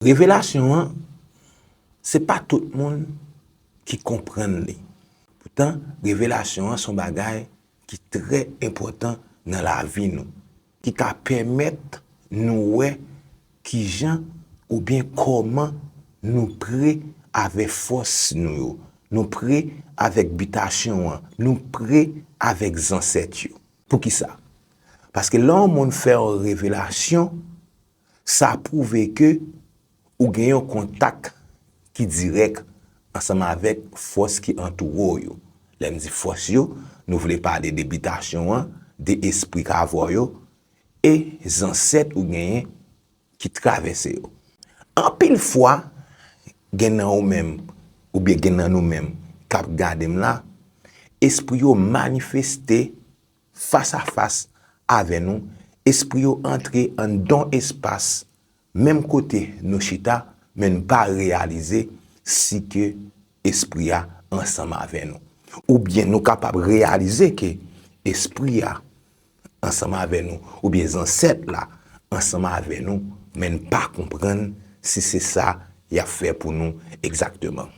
Revelasyon an, se pa tout moun ki konprann li. Poutan, revelasyon an se yon bagay ki trè enpòtan nan lavi nou, ki ka pèmèt nou wè ki jan oubyen kòman nou pre avè fòs nou yo, nou pre avèk bitasyon an, nou pre avèk zansèt yo. Poukisa? Paske lè yon moun fè yon revelasyon, Sa pwouve ke ou gen yon kontak ki dirèk ansanm avèk fòs ki antoure w yo. Lè m di fòs yo, nou vle pale de bitasyon an, de espri k avè w yo, e zansèt ou genyen ki travèse yo. Anpil fwa, gen nan ou menm, oubyen gen nan nou menm k ap gade m la, espri yo manifeste, Fas a fas avè nou, espri yo antre anndan espas menm kote nou chita men nou pa reyalize si ke espri a ansanm avè nou. Oubyen nou kapab reyalize ke espri a ansanm avè nou oubyen zansèt la ansanm avè nou men n pa konprann si se sa y ap fè pou nou egzakteman.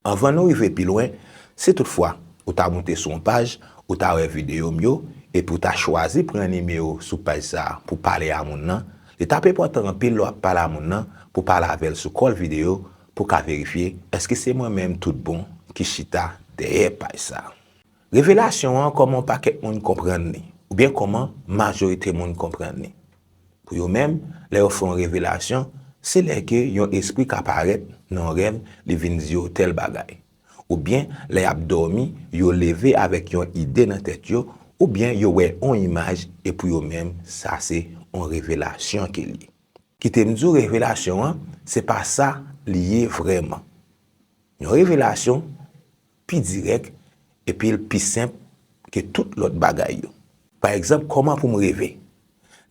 Anvan nou rive pi lwen, si tout fwa ou ta moute sou yon paj, ou ta wè videyo m yo, epi ou ta chwazi pran nimewo sou paj sa a pou pale a moun nan, li t ap enpòtan anpil lè w ap pale a moun nan pou pale avè l sou kòl videyo pou w ka verifye èske se mwen menm tout bon ki chita dèyè paj sa a. Revelasyon an, kòman yon pakèt moun konprann li, oubyen kòman majorite moun konprann li. Pou yo menm, lè yo fè yon revelasyon, se lè ke yon espri ka parèt nan yon rèv li vin di yo tèl bagay. Oubyen lè y ap dòmi, yo leve avèk yon ide nan tèt yo, oubyen yo wè yon imaj e pou yo menm sa se yon revelasyon ke l ye. Kite m di w revelasyon an, se pa sa li ye vrèman. Yon revelasyon, pi dirèk epi l pi senp ke tout lòt bagay yo. Pa egzanp, kòman pou m reve?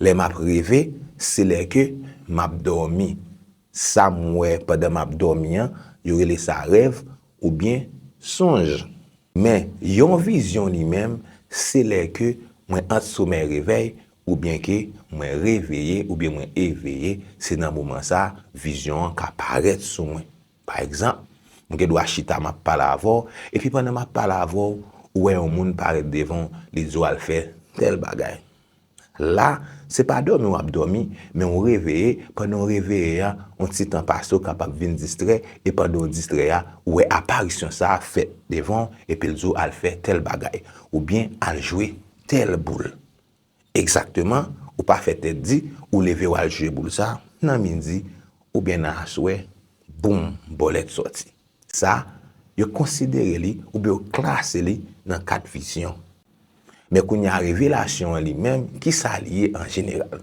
Lè m ap reve, se lè ke m ap dòmi. Sa m wè pandan m ap dòmi an, yo rele sa rèv oubyen sonj. Men, yon vizyon li menm, se lè ke mwen ant somèy-revèy oubyen ke mwen reveye oubyen mwen eveye, se nan moman sa a vizyon an ka parèt sou mwen. Pa egzanp, m gen dwa chita m ap pale avè w, epi pandan m ap pale avè w, ou wè yon moun parèt devan w, li di w al fè tèl bagay. La, se pa dòmi w ap dòmi, men ou reveye, pandan w reveye a, yon ti tan pase ou kapab vin distrè, e pandan w distrè a, ou wè aparisyon sa a fèt devan w, epi l di w al fè tèl bagay, oubyen al jwe tèl boul. Egzakteman, ou pa fè tèt di, ou leve wal jwe boul sa, nan midi, oubyen nan aswè, boum, bòlèt sòti. Sa, yo konsidere li oubyen yo klase li nan kat vizyon. Men kounye a revelasyon an li menm, kisa li ye an jeneral?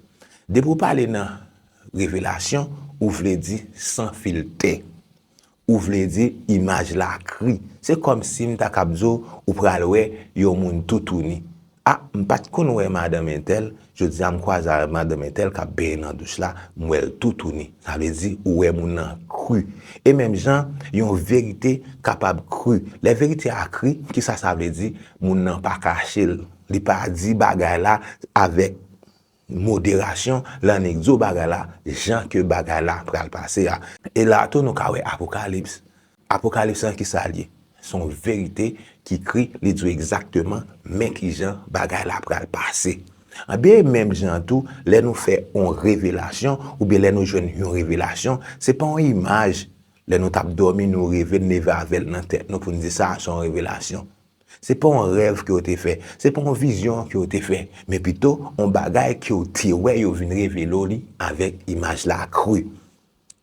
Depi ou pale nan Revelasyon, ou vle di san filtè. Ou vle di imaj la kri. Se kòm si m ta kab di w ou pral wè yon moun toutouni. A, m pa t konn wè madanm entèl, jodi a m kwaze avèk madanm entèl k ap benyen nan douch la, m wè l toutouni. Sa vle di ou wè moun nan kri. E menm jan, yon verite kapab kri. Lè verite a kri, ki sa sa vle di? Moun nan pa kache l. Li pa di bagay la avèk. Moderasyon lan nèg zo bagay la jan ke bagay la pral pase a. E la tou nou ka wè apokalips. Apokalips lan ki sa l ye? Son verite ki ekri li di w egzakteman men ki jan bagay la pral pase. Anben e menm jan an tou lè nou fè on revelasyon oubyen lè nou jwenn yon revelasyon se pa on imaj lè nou t ap dòmi nou reve n leve avè l nan tèt nou pou n di sa a son revelasyon. Se pa yon rèv ke yo te fè, se pa yon vizyon ke yo te fè, men pito yon bagay ke yo te wè yo vin revele w li avèk imaj la kri.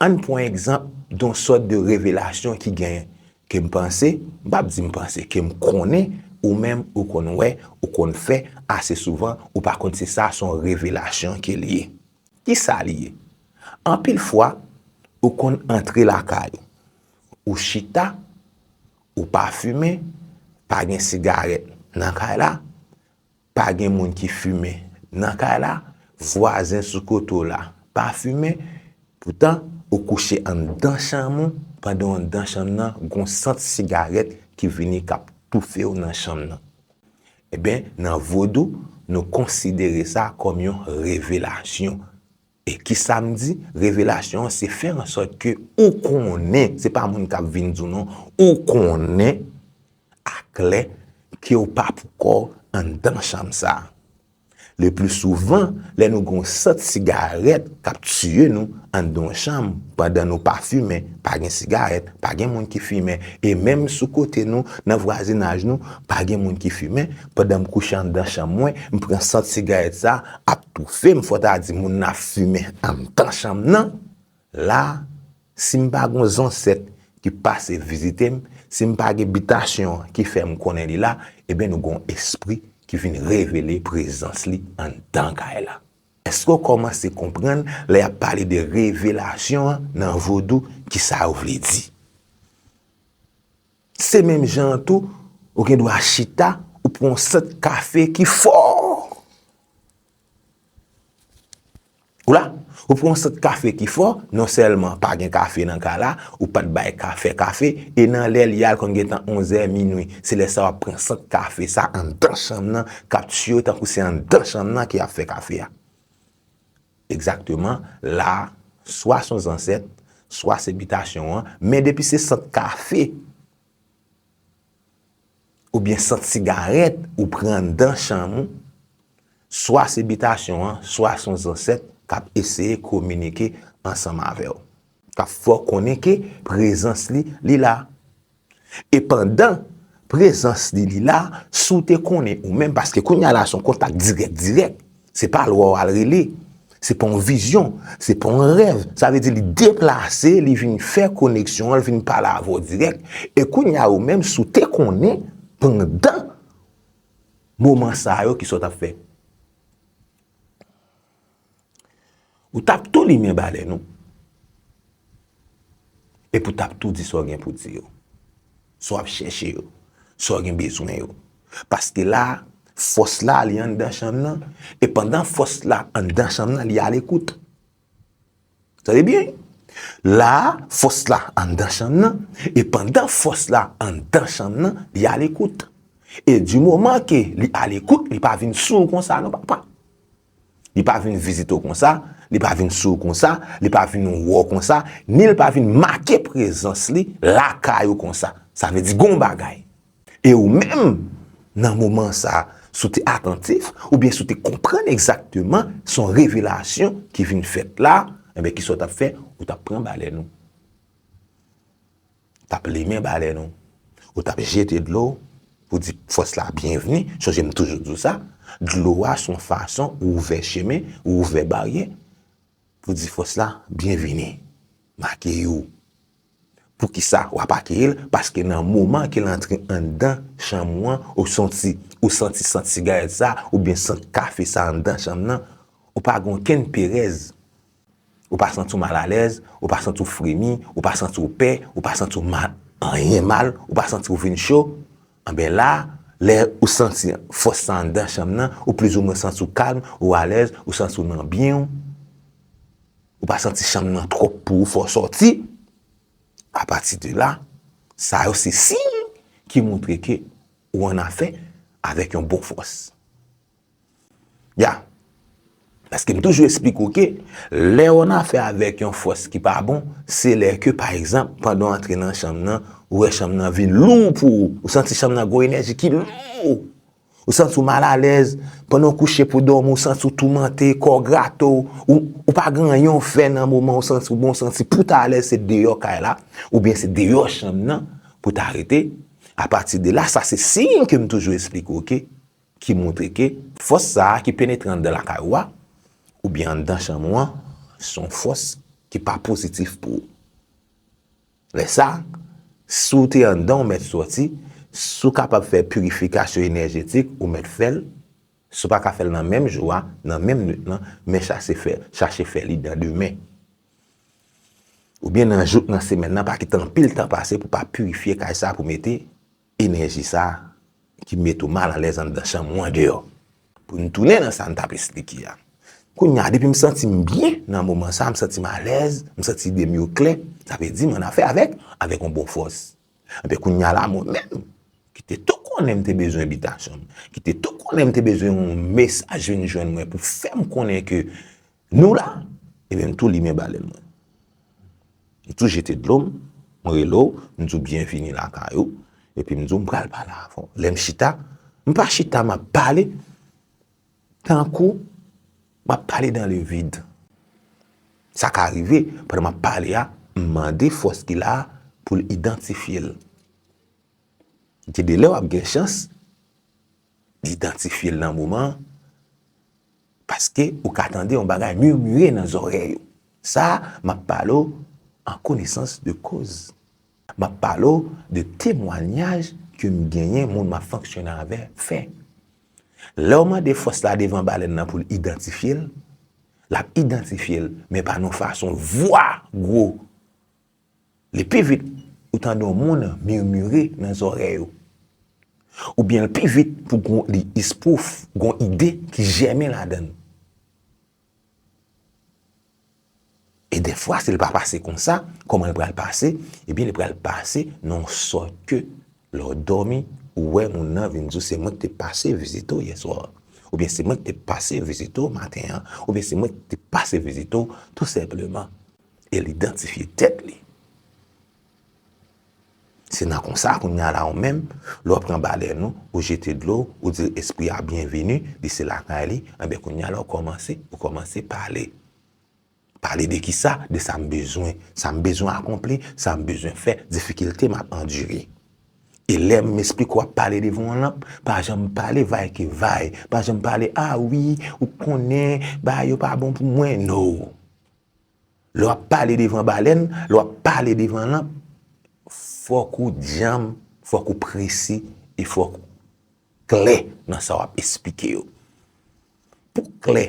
Ann pran egzanp yon sòt de revelasyon ki genyen, ke m panse, m pap di m panse, ke m konnen ou menm ou konn wè, ou konn fè ase souvan, ou pa konn si sa se yon revelasyon ke li ye. Ki sa li ye? Anpil fwa, ou konn antre lakay ou, ou chita, Ou pa fimen, pa gen sigarèt nan kay la, pa gen moun ki fimen nan kay la, vwazen sou kote w la pa fimen, poutan ou kouche anndan chanm ou pandan anndan chanm nan gon sant sigarèt ki vini k ap toufe w nan chanm nan. Enben, nan vodou, nou konsidere sa kòm yon revelasyon E kisa m di, revelasyon an se fè an sòt ke ou konnen, se pa moun kap vin di w non, ou konnen aklè ke w pa pou kò w anndan chanm sa. Le pli souvan, lè nou gen yon sant sigarèt kap tiye nou anndan yon chanm, pandan nou pa fimen, pa gen sigarèt, pa gen moun ki fimen, e menm sou kote nou, nan vwazinaj nou, pa gen moun ki fimen, Pandan m kouche anndan chanm mwen, m pran sant sigarèt sa ap toufe m, fò ta di moun nan ap fimen anndan chanm nan. La, si m pa gon zansèt ki pase vizite m, si m pa gen bitasyon an ki fè m konnen li la, ebyen nou gon espri ki vin revele prezans li anndan kay la. Èske w kòmanse konprann lè y ap pale de revelasyon an nan vodou, kisa yo vle di? Se menm jan an tou, ou gen dwa chita, ou pran yon sant kafe ki fò. Ou la? Ou pran yon sant kafe ki fò, non sèlman pa gen kafe nan kay la, ou pa t bay ka fè kafe, e nan lè li a l konn gen tan onzè, minui. Se lè sa a w ap pran sant kafe sa a anndan chanm nan k ap tiyo tankou se anndan chanm nan ki ap fè kafe a. Egzakteman, la a, swa son zansèt, swa se bitasyon an, men depi se sant kafe, oubyen sant sigarèt ou pran anndan chanm ou, swa se bitasyon an, swa son zansèt k ap eseye kominike ansanm avè w. K ap fè w konnen ke prezans li, li la. E pandan prezans li li la, si w te konnen ou menm, paske kounya la se yon kontak dirèk dirèk, se pa lwa w al rele, se pa yon vizyon, se pa yon rèv, sa vle di li deplase, li vin fè koneksyon an, li vin pale avè w dirèk, e kounya ou menm si w te konnen pandan moman sa yo ki sa w t ap fè? Ou tap tou limen balèn ou. Epi ou tap tou di sa w gen pou di yo. Sa w ap chèche yo. Sa w gen bezwen yo. Paske la, fòs la li anndan chanm nan. E pandan fòs la anndan chanm nan, li alekout. Tande byen, la a, fòs la anndan chanm nan, e pandan fòs la anndan chanm nan, li alekout. E di moman ke li alekout, li pa vin sou ou konsa non papa. Li pa vin vizite ou konsa, li pa vin sou ou konsa, li pa vin wè ou konsa, ni li pa vin make prezans li lakay ou konsa. Sa vle di gon bagay. E ou menm, nan moman sa a, si w te atantif, oubyen si w te konprann egzakteman se yon revelasyon ki vin fèt la, enben kisa w t ap fè? Ou t ap pran balèn ou, ou t ap limen balèn ou, ou t ap jete dlo w pou w di fòs la byenvni, sonje m toujou di w sa, dlo a se yon fason ou ouvè chemen, ou ouvè baryè pou w di fòs la byenvini, m akeyi w. Poukisa wap akeyil paske nan moman kel antre anndan chanm ou an ou sonti ou santi sant sigarèt sa oubyen sant kafe sa anndan chanm nan ou pa gen okenn perèz ou pa santi w mal alèz ou pa santi w fremi ou pa santi w pè ou pa santi w mal anyen mal ou pa santi w vin cho anben la lè ou santi fòs sa anndan chanm nan ou plizoumwen santi w kalm ou alèz ou santi w nan byen w. Ou pa santi chanm nan twòp pou ou fè w sòti. A pati de la, sa yo se siy ki montre ke ou annafè avèk yon bon fòs. Ya! Paske m toujou esplike w ke lè ou annafè avèk yon fòs ki pa bon, se lè ke pa egzanp, pandan w antre nan chanm nan, ou wè chanm nan vin lou pou ou. Ou santi chanm nan gen yon enèji ki lou. Ou santi w mal alèz, pandan w kouche pou w dòmi ou santi w toumante, kò w grate w, ou pa gen anyen w fè nan moman ou santi w bon, ou santi pou w ta alèz se deyò kay la oubyen se deyò chanm nan pou w ta rete, apati de la sa se siy ke m toujou esplike w ke ki montre ke fòs sa a ki penetre anndan lakay ou a oubyen anndan chanm ou an se yon fòs ki pa pozitif pou ou. Lè sa, si w te anndan ou mèt sòti, si w kapab fè pirifikasyon enèjetik ou mèt fè l, si w pa ka fè l nan menm jou a, nan menm nwit lan, men chache fè li nan demen. Oubyen nan jou k nan semèn nan, pa kite anpil tan pase pou pa pirifye kay sa pou mete Enèji sa ki met ou mal alèz anndan chanm ou andeyò. Pou n tounen nan sa n t ap esplike a. Kounye a, depi m santi m byen nan moman sa, m santi m alèz, m santi ide m yo klè, sa vle di m annafè avèk, avèk yon bon fòs. Enben kounye a la, mwen menm, ki te tou konnen m te bezwen bitasyon, ki te tou konnen m te bezwen yon mesaj vin jwenn mwen pou fè m konnen ke Nou la! Ebyen m tou limen balèn mwen. M tou jete dlo m, m rele w, m di w byenvini lakay ou, epi m di w m pral pale avè w. Lè m chita, m pa chita m ap pale tankou m ap pale dan le vid. Sa ka rive, pandan m ap pale a, m mande fòs ki la a pou l idantifye l. Gen de lè w ap gen chans. idantifye l nan moman an, paske ou ka tande yon bagay murmure nan zòrèy ou. Sa a, m ap pale w an konesans de koz. M ap pale w de temwanyaj ke m genyen, moun m ap fonksyone avè fè. Lè w mande fòs la devan balèn nan pou l idantifye l, l ap idantifye l, men pa nan fason vwa gwo. Li pi vit ou tande yon moun murmure nan zòrèy ou. Oubyen li pi vit pou gon li ispouf, gon ide ki jèmen ladan l. E dèfwa si li pa pase konsa, kòman li pral pase? Ebyen li pral pase nan yon sòt ke lè w dòmi, ou wè moun nan vin di w se mwen ki te pase vizite w yèswa a. Oubyen se mwen ki te pase vizite w maten an. Oubyen se mwen ki te pase vizite w tou senpleman. El idantifye tèt li. Se nan konsa kounye a la ou menm, lè w pran balè nou, ou jete dlo w, ou di espri a byenveni, li se lakay li, anben kounye a la ou kòmanse, ou kòmanse pale. Pale de ki sa? De sa m bezwen. Sa m bezwen akonpli, sa m bezwen fè, difikilte m ap andire. E lè m esplike w ap pale devan yon lanp, pa janm pale vay ke vay, pa janm pale a wi, ou konnen, bagay yo pa bon pou mwen, no. Lè w ap pale devan balèn, lè w ap pale devan lanp, fòk ou djanm, fòk ou presi, e fòk ou klè nan sa w ap esplike yo. Pou w klè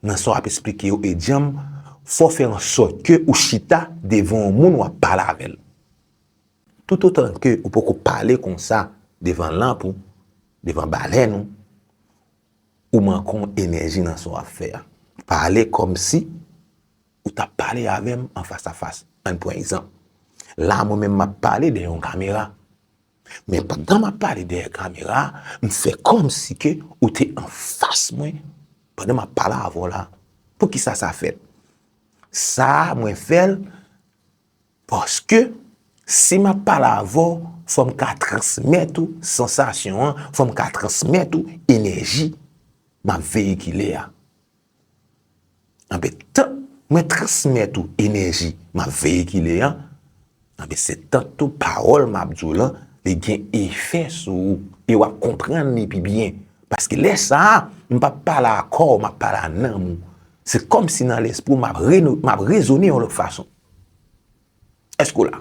nan sa w ap esplike yo e djanm, fò w fè an sòt ke ou chita devan yon moun w ap pale avè l. Toutotan ke ou poko pale konsa devan lanp ou, devan balèn ou, Ou manke w enèji nan sa w ap fè a. Pale kòmsi ou t ap pale avè m an fasafas. Ann pran egzanp, la a mwen menm m ap pale dèyè yon kamera. Men pandan m ap pale dèyè kamera a, m fè kòmsi ke ou te an fas mwen pandan m ap pale avè w la a. Poukisa sa fèt? Sa a mwen fè l Paske, si m ap pale avè w, fò m ka transmèt ou sansasyon an, fò m ka transmèt ou enèji m ap veyikile a. Anben, tank mwen transmèt ou enèji m ap veyikile an, anben se tank tou pawòl m ap di w lan, li gen efè sou ou, e w ap konprann li pi byen. Paske lè sa a, m pa p pale a kò w, m ap pale a nanm ou. Se kòmsi nan lespri w, m ap rezone yon lòt fason. Èske w la?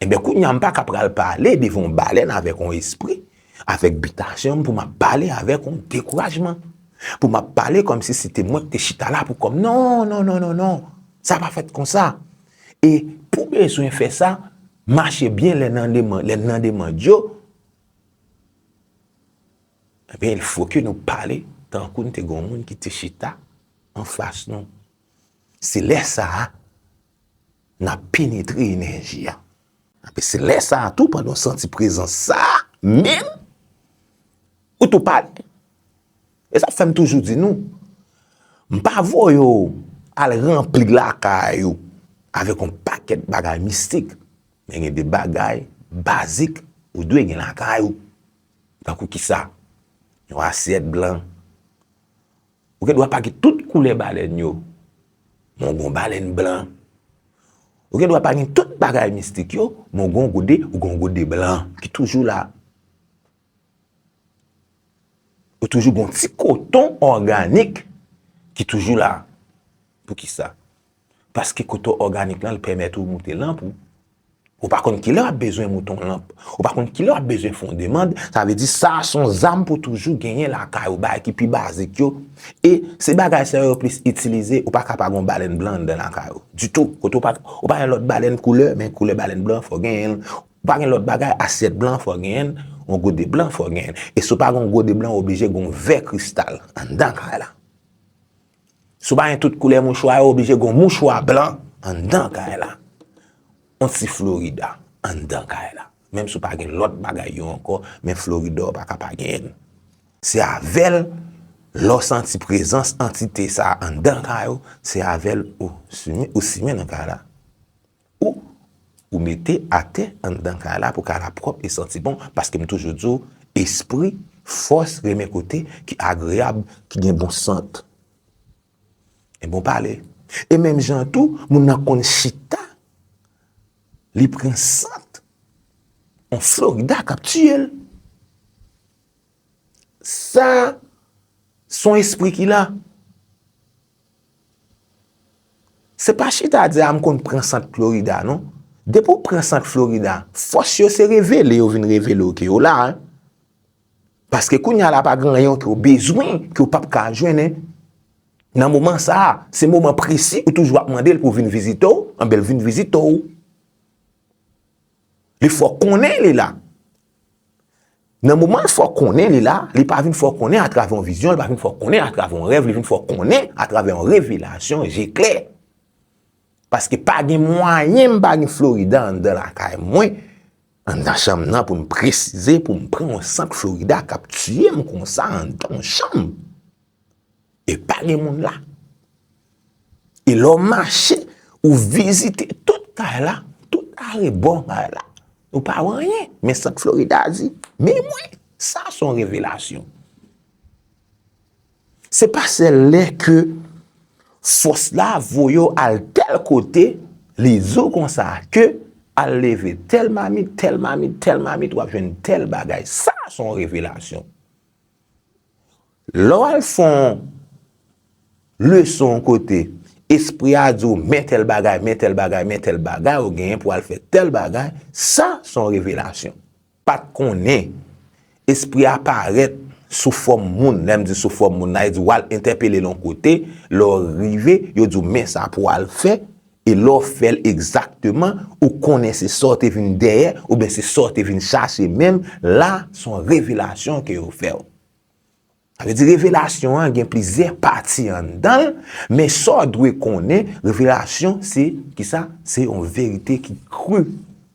Enben, kounye a m pa ka pral pale devan yon balèn avèk yon espri, avèk bitasyon m pou m ap pale avèk yon dekourajman, pou m ap pale kòm si se te mwen ki te chita la pou kò m. Non, non, non, non, non! Sa pa fèt konsa. E pou bezwen fè sa, mache byen lè nan demand yo, enben, il fo ke nou pale tankou nou te gen yon moun ki te chita anfas nou. Se lè sa a, n ap penetre enèji a. Anpi se lè sa a tou, pandan w santi prezans sa a menm, ou tou pale. E sa fè m toujou di nou, m pa voye w al ranpli lakay ou avèk yon pakèt bagay mistik, men gen de bagay bazik ou dwe gen lakay ou. Tankou kisa? Yon asyèt blan, Ou gen dwa pake tout koulè balèn yo, men ou gon balèn blan. Ou gen dwa pake tout bagay mistik yo, men ou gon gode, ou gon gode blan ki toujou la. Ou toujou gon ti koton òganik ki toujou la. Pou ki sa? Paske koto òganik lan l pèmèt ou moute lanp ou. Ou pa konn kilè w ap bezwen moute yon lanp. Ou pa konn kilè w ap bezwen fè yon demand. Sa vle di sa a s on zam pou toujou genyen lakay ou bagay ki pi bazik yo. E se bagay sa yo yo plis itilize. Ou pa ka pa gen yon balèn blan anndan lakay ou. Ditou. Kote ou pa ou pa gen lòt balèn koulè men koulè balèn blan fò w genyen l. Ou pa gen lòt bagay asyèt blan fò w genyen l. Yon gode blan fò w genyen l. E si w pa gen yon gode blan ou oblije gen yon vè kristal anndan kay la. Si w pa gen tout koulè mouchwa yo, oblije gen yon mouchwa blan anndan kay la. Yon ti florida anndan kay la. Menm si w pa gen lòt bagay yo ankò, men florida w pa ka pa genyen l. Se avè l, lè w santi prezans antite sa anndan kay ou, se avè l ou simen nan kay la. Ou ou mete atè anndan kay la pou kay la pwòp e santi bon paske m toujou di w espri fòs renmen kote ki agreyab ki gen bon sant e bon pale e menm jan an tou moun nan konn chita li pran sant on florida k ap tiye l sa son espri ki la. Se pa chita di a m konn pran sant Florida non. Depi w pran sant Florida, fòs yo se revele yo vin revele w ke yo la. Paske kounya la pa gen anyen ke w bezwen ke w pap ka jwenn. Nan moman sa a, se moman presi ou toujou ap mande l pou vin vizite w, anben l vin vizite w. Li fè w konnen li la. Nan moman l fè w konnen li la, li pa vin fè w konnen atravè yon vizyon, li pa vin fè w konnen atravè yon rèv, li vin fè w konnen atravè yon revelasyon je klè. Paske pa gen mwayen m pa gen Florida anndan lakay mwen, anndan chanm nan pou m presize, pou m pran yon sant Florida k ap tiye m konsa anndan yon chanm. E pa gen moun la. E lè w mache, ou vizite tout kay la, tout arebò kay la. Ou pa wè anyen. Men sa Florida a di. Men mwen, sa se yon revelasyon. Se pa sèl lè ke fòs la voye w al tèl kote, li di w konsa ke al leve tèl mamit, tèl mamit, tèl mamit, w ap jwenn tèl bagay. Sa se yon revelasyon. Lè w al fè yon leson yon kote, espri a di w men tèl bagay, men tèl bagay, men tèl bagay ou genyen pou w al fè tèl bagay, sa se yon revelasyon. Pa t konnen, espri a parèt sou fòm moun, lè m di sou fòm moun nan, e di w al entèpele l yon kote, lè w rive, yo di w men sa pou w al fè, e lè w fè l egzakteman, ou konnen se sa w te vin dèyè, oubyen se sa w te vin chache menm, la se yon revelasyon ke yo fè w. Sa vle di revelasyon an gen plizyè pati anndan l, men sa w dwe konnen, revelasyon se, kisa? Se yon verite ki kru.